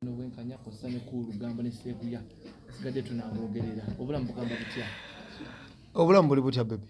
nobwenkanya kosa ne ku lugambo ne sebuya sigadde tunaboogerera obulamu bugamba butya obulamu buli butya bebi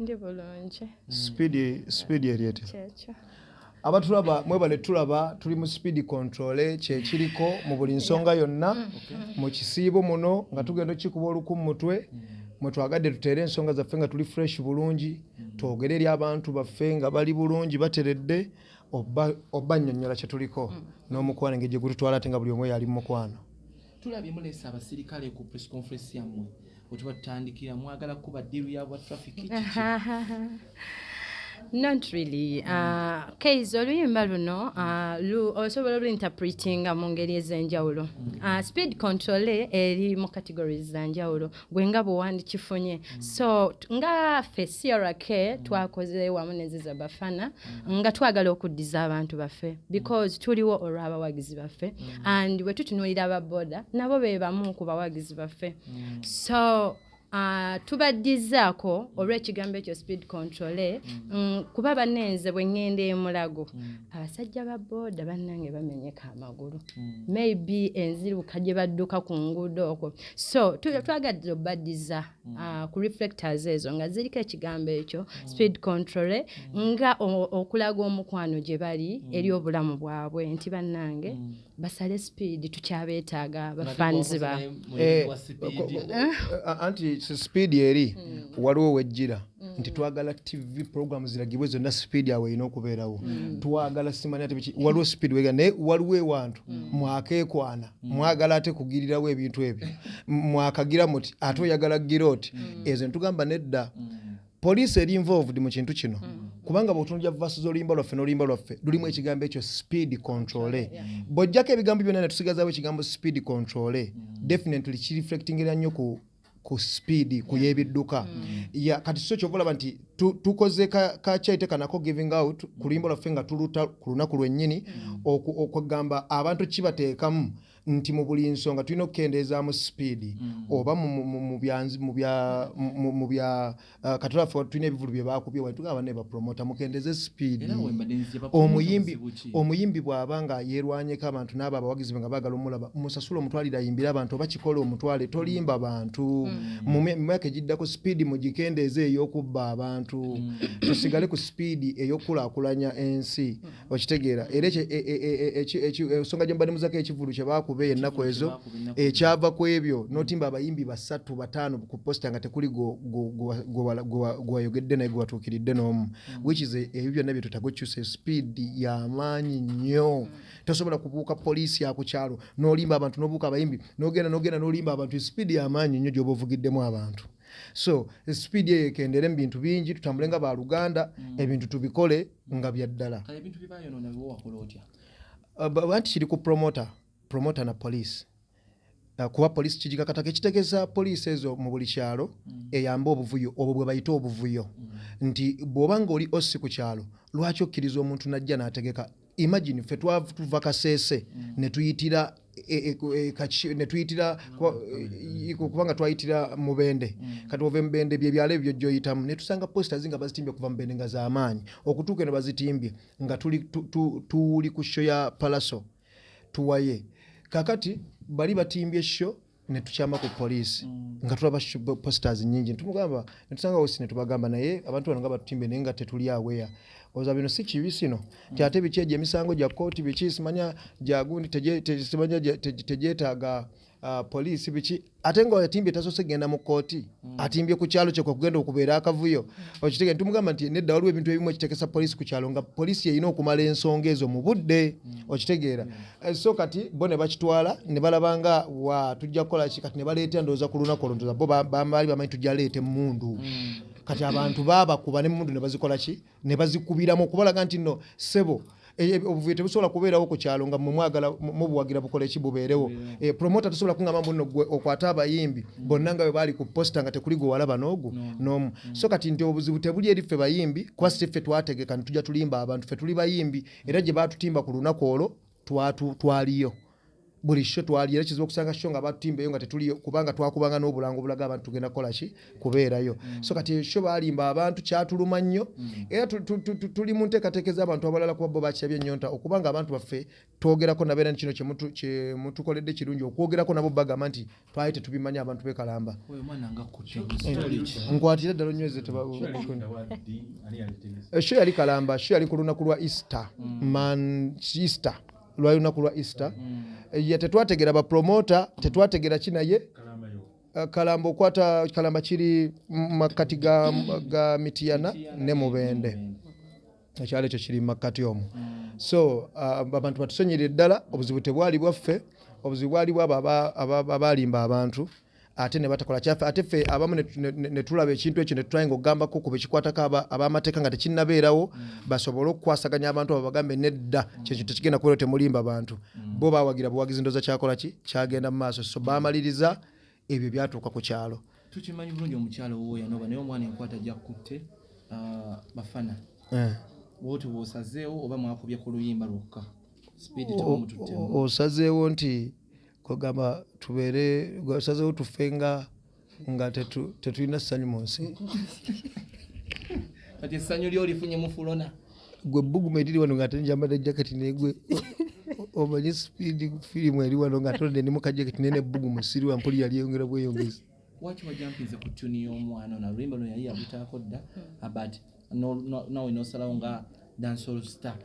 ndi bulungi sipiidi sipiidi eryete kyekyo abatulaba mwebale tulaba tuli mu sipiidi kontole kyekiriko mu buli nsonga yonna mm. mu kisiibo muno nga tugenda okikuba oluku mu mutwe mm. mwe twagadde tuteere ensonga zaffe nga tuli fresh bulungi mm. twogere eri abantu baffe nga bali bulungi bateredde oba nyonyola kyetuliko mm. n'omukwano engeri gyegututwala ate nga buli omu yali mumukwano tulabye mulesa abasirikale ku press conference yammwe wetuba tutandikira mwagala kuba diru yabwa traffic not really mm. uh, kaize oluyimba luno uh, lu, osobola oluinterpretinga mu ngeri ez'enjawulo mm. uh, speed control eri mu categories za njawulo gwe nga bwe wandikifunye mm. so nga ffe crk mm. twakoze wamu neziza bafana mm. nga twagala okuddiza abantu baffe because tuliwo olw'abawagizi baffe and bwe tutunuulira ababoda nabo be bamu ku bawagizi baffe so Ah, tubaddizaako mm. olw'ekigambo ekyo speed control eh? mm. mm, kuba banenze bwe ŋŋenda emulago abasajja ba booda bannange bamenyeka amagulu maybe enziruka gye badduka ku nguudo okwo so twagadde obadiza mm. ah, ku reflectors ezo nga ziriko ekigambo ekyo mm. speed control eh, mm. nga okulaga omukwano gye bali eri obulamu bwabwe nti bannange basale speed tukyabeetaaga bafans ba eh, eh, anti speed eri waliwo wejjira Mm. nti twagala tv program ziragibwe zonna speed awo erina okubeerawo mm. twagala simanya tebiki waliwo speed wega naye waliwo ewantu mm. mwakekwana mwagala ate kugirirawo ebintu ebyo mwakagira muti ate oyagala gira oti ezo netugamba nedda poliisi eri involved mu kintu kino kubanga bwotunulya vasu z'oluyimba lwaffe n'oluyimba lwaffe lulimu ekigambo ekyo speed controle bwojjako ebigambo byonna netusigazawo ekigambo speed controle definitely kireflectingera nnyo ku ku sipiidi ku y'ebidduka mm. kati so kyova olaba nti tukoze kakyaite kanako giving out mm. ku luyimba lwaffe nga tuluta ku lunaku lwennyini mm. okugamba abantu kibateekamu nti mu buli nsonga tulina okukendeezaamu sipiidi oba mu Uh, kati lwaffe tulina ebivulu bye baakubye wali tugamba ne bapromota mukendeze sipiidi omuyimbi omuyimbi bw'aba nga yeerwanyeko abantu n'abo abawagizi be nga baagala omulaba musasula omutwalire ayimbire abantu oba kikola omutwale tolimba bantu hmm. mu myaka egiddako sipiidi mugikendeeze ey'okubba abantu hmm. tusigale ku sipiidi ey'okukulaakulanya ensi okitegeera era e, e, e, ensonga gye mubadde muzako ekivulu kye baakuba ennaku ezo ekyava ku ebyo notimba abayimbi basatu bataano ku posita nga tekuli gwewayogedde naye gwewatuukiridde n'omu mm. which is ebyo byonna bye tutaga okyusa speed yamaanyi nnyo mm. tosobola kubuuka poliisi ya ku kyalo n'olimba abantu n'obuuka abayimbi n'ogenda n'ogenda n'olimba abantu speed yamaanyi nnyo gy'oba ovugiddemu abantu so speed eyo ekendere mu bintu bingi tutambule nga baluganda mm. ebintu tubikole nga byaddala uh, anti kiri ku promoter promoter na police uh, kuba police kigikakatako ekitegeza police ezo mu buli kyalo mm. eyamba obuvuyo obwo bwe bayita obuvuyo mm. nti bw'oba nga oli osi ku kyalo lwaki okkiriza omuntu najja n'ategeka imagine fe twatuva kasese mm. netuyitira e, e, e, e netuyitira e, kubanga twayitira mubende mm. kati ove mubende byebyalo ebyo joyitamu netusanga posters nga bazitimbye okuva mubende nga zamaanyi okutuuka eno bazitimbye nga tuli tu, tu, tu, ku sho ya palaso tuwaye kakati bali batimbye sho netukyama ku poliisi mm. nga tulaba posters nyingi netumugamba netusanga wosi netubagamba naye abantu bano nga batutimbe naye nga tetuli aweya oza bino si kibi sino mm. tyate biki egyo emisango gya kooti biki simanya gyagundi simanya tegyetaaga uh, poliisi biki ate nga atimbye tasose genda mu kooti mm. atimbye ku kyalo kyekwe kugenda okubeera akavuyo okitege nitumugamba nti nedda waliwo ebintu ebimu ekitekesa poliisi ku kyalo nga poliisi yeyina okumala ensonga ezo mu budde okitegeera Eh, so kati bo ne bakitwala ne balaba nga wa tujja kukola ki kati ne baleeta endowooza ku lunaku olwo ndoza bo baali bamanyi tujja leeta emmundu mm. kati abantu baabakuba n'emmundu ne bazikola ki ne bazikubiramu okubalaga nti nno ssebo eh, eh, obuvuyo tebusobola kubeerawo ku kyalo nga mwemwagala mubuwagira bukole ki bubeerewo promota tosobola kungamba mbu nno gwe okwate abayimbi mm. bonna nga bwe baali ku posita nga tekuli gwe walaba n'ogu n'omu mm. so kati nti obuzibu tebuli eri ffe bayimbi kuba si ffe twategeka ne tujja tulimba abantu ffe tuli bayimbi era gye baatutimba ku lunaku olwo twaliyo buli sho twaliyo era kizibu okusanga sho nga baatutimbaeyo nga tetuliyo kubanga twakubanga n'obulango obulaga abantu tugenda kukola ki kubeerayo mm. so kati sho balimba abantu kyatuluma nnyo mm. era tuli mu nteekateeka ez'abantu abalala kuba bo bakirabye ennyonta okubanga abantu baffe twogerako nabeera ni kino kyemutukoledde kirungi okwogerako nabo bagamba nti twali tetubimanyi abantu bekalamba nkwatira ddala onyweze esho yali kalamba sho yali ku lunaku lwa easter mm. man easter lwali lunaku lwa easter mm. tetwategera bapromota tetwategera ki naye Eh, kalamba okwata kalamba kiri makkati ga, ga mitiyana ne mubende ekyalo ekyo kiri mumakkati omu so uh, abantu batusonyerire ddala obuzibu tebwali bwaffe obuzibu bwali bwabo abaalimba abantu ate ne batakola kyaffe ate ffe abamu ne tulaba ekintu ekyo ne tutulainga okugambako ku bekikwatako ab'amateeka nga tekinnabeerawo mm. basobole okukwasaganya abantu abo bagambe nedda mm. kyekyo tekigenda kubeera temulimba bantu mm. bo bawagira buwagizi ndoza kyakola ki kyagenda mu maaso so bamaliriza ebyo byatuuka ku kyalo tukimanyi bulungi omukyalo wowo yanoba naye omwana enkwata gyakutte ah, bafana eh. woti wosazeewo oba mwakubye ku luyimba lwokka osazeewo nti kwegamba tubeere osazeewo tufe nga nga tetulina ssanyu mu nsi kati essanyu lyolifunye mufulona gwe bbugumu eriri wano ng'ate njambadde jaketi naye gwe omanyi sipiidi firimu eri wano ng'ate odde ne mukajaketi naye ne bbugumu siriwa mpuli yali eyongera bweyongezi waki wajampinze ku tuni y'omwana ono aluyimba luno yali yabutaako dda hmm. but nawe nosalawo nga dansol star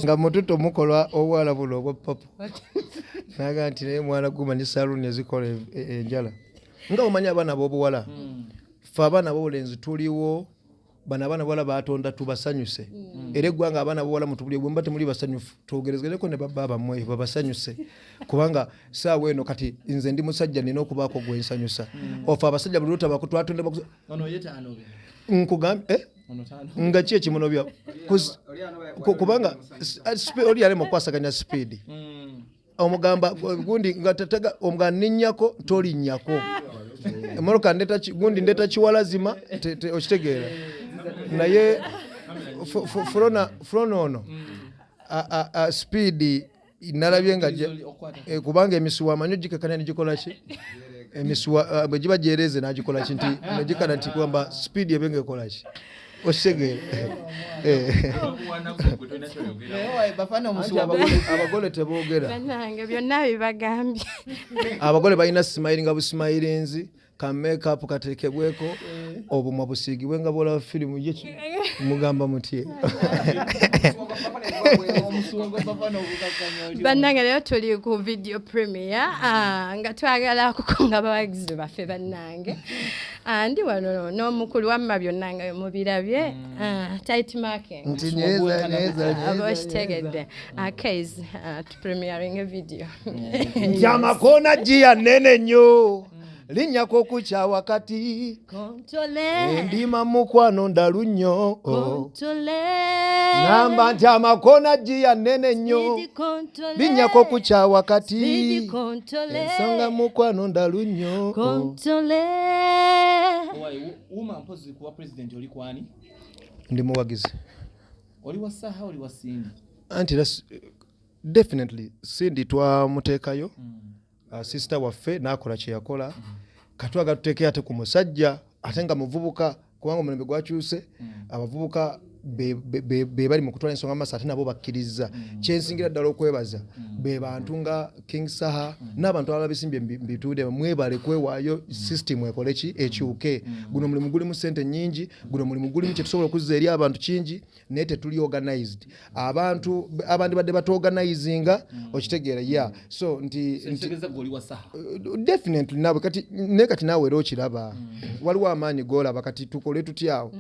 nga mututo mukola obwala buno obwa papa naga nti naye mwana guma ne saluuni ezikola e- e- enjala nga omanyi abaana bobuwala mm. fe abaana bobulenzi tuliwo bano abaana bawala batonda tubasanyuse mm. era eggwanga abaana bawala mutubuli bwemba temuli basanyufu twogerezgereko ne babba bamwe babasanyuse kubanga saawa eno kati nze ndi musajja nina okubaako gwensanyusa mm. ofe abasajja buli lutabakutwatonda nkugambye eh? nga ki ekimunobya kubanga oli yalema okukwasaganya sipiidi omugamba gundi nga tatega omugamba ninnyako tolinnyako emmotoka gundi ndeeta kiwalazima okitegeera naye fulona ono sipiidi nalabye nga eh, kubanga emisuwa amanyi ogikakana negikolaki emisuwa eh, bwe giba gyereeze nagikolaki nti negikana nti kwamba sipiidi ebe nga ekolaki osegere abagole tebogera abagole balina simayiri nga busimayirinzi ka makeup katekebweko eh. obumwa busiigibwe nga bwolaba firimu ye mugamba mutye bannange leero tuli ku video premier ah, nga twagala kukunga abawagizi baffe bannange Ah, ndi wano n'omukulu wamma byonna nga mubirabye mm. ah, tight marking nti neza neza aba okitegedde akays ah, to premiering a video nti amakoona giya nene nnyo linnyako kukya wakati endima mukwano ndalu nnyo oh. ngamba nti amakoona giya nene nnyo linnya kokukya wakati ensonga mukwano ndalu nnyo ndi muwagizi anti definitely sindi twamuteekayo mm. uh, sister waffe nakola kyeyakola mm. katwaga tuteeke ate ku musajja ate nga muvubuka kubanga omulembe gwakyuse mm. abavubuka be bali mu kutwala ensonga maaso ate nabo bakkirizza mm. kyensingira ddala okwebaza mm. be bantu nga king saha mm. n'abantu abala bisimbye bituude mwebale kwewaayo system ekole ki ekyuke guno mulimu gulimu sente nyingi guno mulimu gulimu kyetusobola okuzza eri abantu kingi naye tetuli organized abantu abandi badde batuorganizinga mm. okitegeera ya mm. so nti uh, definitely nawe kati naye kati naawe era okiraba mm. waliwo amaanyi golaba kati tukole tutyawo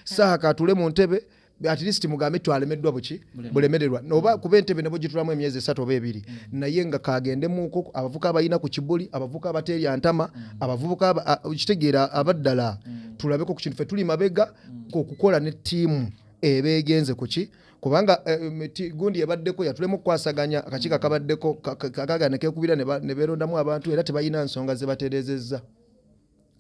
saha katule mu ntebe at least mugambe twalemeddwa buki bulemererwa oba kuba entebe nebo gitulamu emyezi esatu oba ebiri mm. naye nga kagendemuko abavuka abalina ku kibuli abavuka abaterya ntama mm. abavubuka kitegeera abaddala mm. tulabeko ku kintu fe tuli mabega mm. okukola ne ttiimu eba egenze ku ki kubanga eh, gundi ebaddeko yatulemu okukwasaganya akakiiko mm. akabaddeko kagana kekubira ne beerondamu abantu era tebalina nsonga ze batereezezza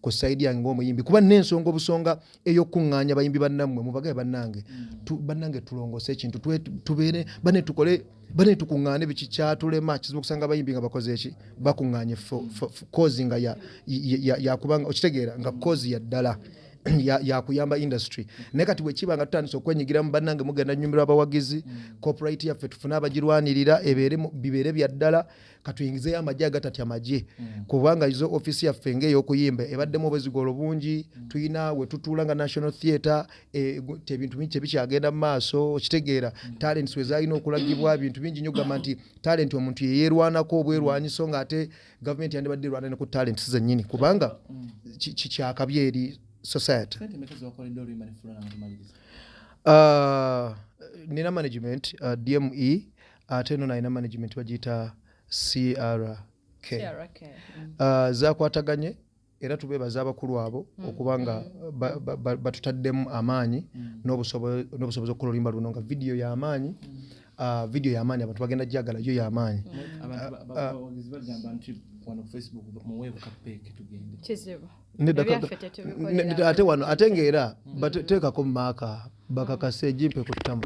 ku saidi yange ngaomuyimbi kuba nensonga obusonga eyokukuŋŋaanya bayimbi bannammwe mubagaye bannange mm. bannange tulongose ekintu tubeere bane tukole bane tukuŋŋaane biki kyatulema kizibu okusanga abayimbi nga bakoze eki bakuŋŋaanye kozi nga yakubanga okitegeera nga kozi ya ddala yakuyamba industry naye kati bwekiba nga tutandise okwenyigiramu bannange mugenda nyumirwa abawagizi mm. copyright yaffe tufune abagirwanirira bibeere bya ddala katuyingizeyo amagye agatati amagye mm. kubanga izo offiisi yaffe ngaeyokuyimba ebaddemu obwezigolo bungi mm. tulina wetutuula nga national theatre e, ebintu bingi tebikyagenda mu maaso okitegeera talents wezalina okulagibwa bintu bingi nyo gamba nti talent omuntu yeyerwanako obwerwanyiso ngaate gavumenti yandibadde erwana ne ku talenti zennyini kubanga kikyakabi eri society uh, nina management uh, dme ate no nalina management bagiyita crk mm. uh, zakwataganye era tubeebaza abakulu abo mm. okuba nga mm. batutaddemu amaanyi mm. n'obusobozi okukola oluyimba luno nga vidiyo y'amaanyi ah, vidiyo y'amaanyi abantu bagenda gyagala yo y'amaanyi ate wano ate ngaera bateekako maaka bakakase egimpe ku ttama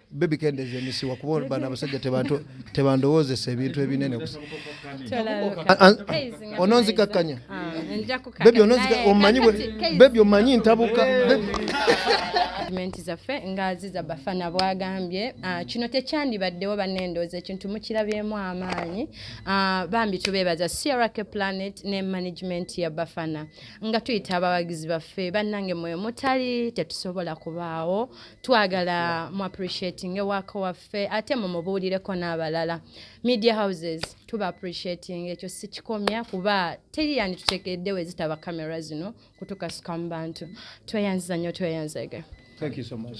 bebi kendeza emisiwa kuba olubana abasajja tebandowoozesa ebintu ebinene ononzikakkanya ah, bebi omanyi bebi omanyi ntabuka zaffe nga ziza bafana bwagambye ah, kino tekyandibaddewo banendooza ekintu mukirabyemu amaanyi ah, bambi tubeebaza crk planet ne management ya bafana nga tuyita abawagizi baffe bannange mwe mutali tetusobola kubaawo twagala mu appreciating ewaka waffe ate mumubuulireko n'abalala media houses tuba appreciating ekyo sikikomya kuba teri yandi tutekedde we zitaba camera zino kutukasuka mu bantu tweyanziza nnyo tweyanzege thank you so much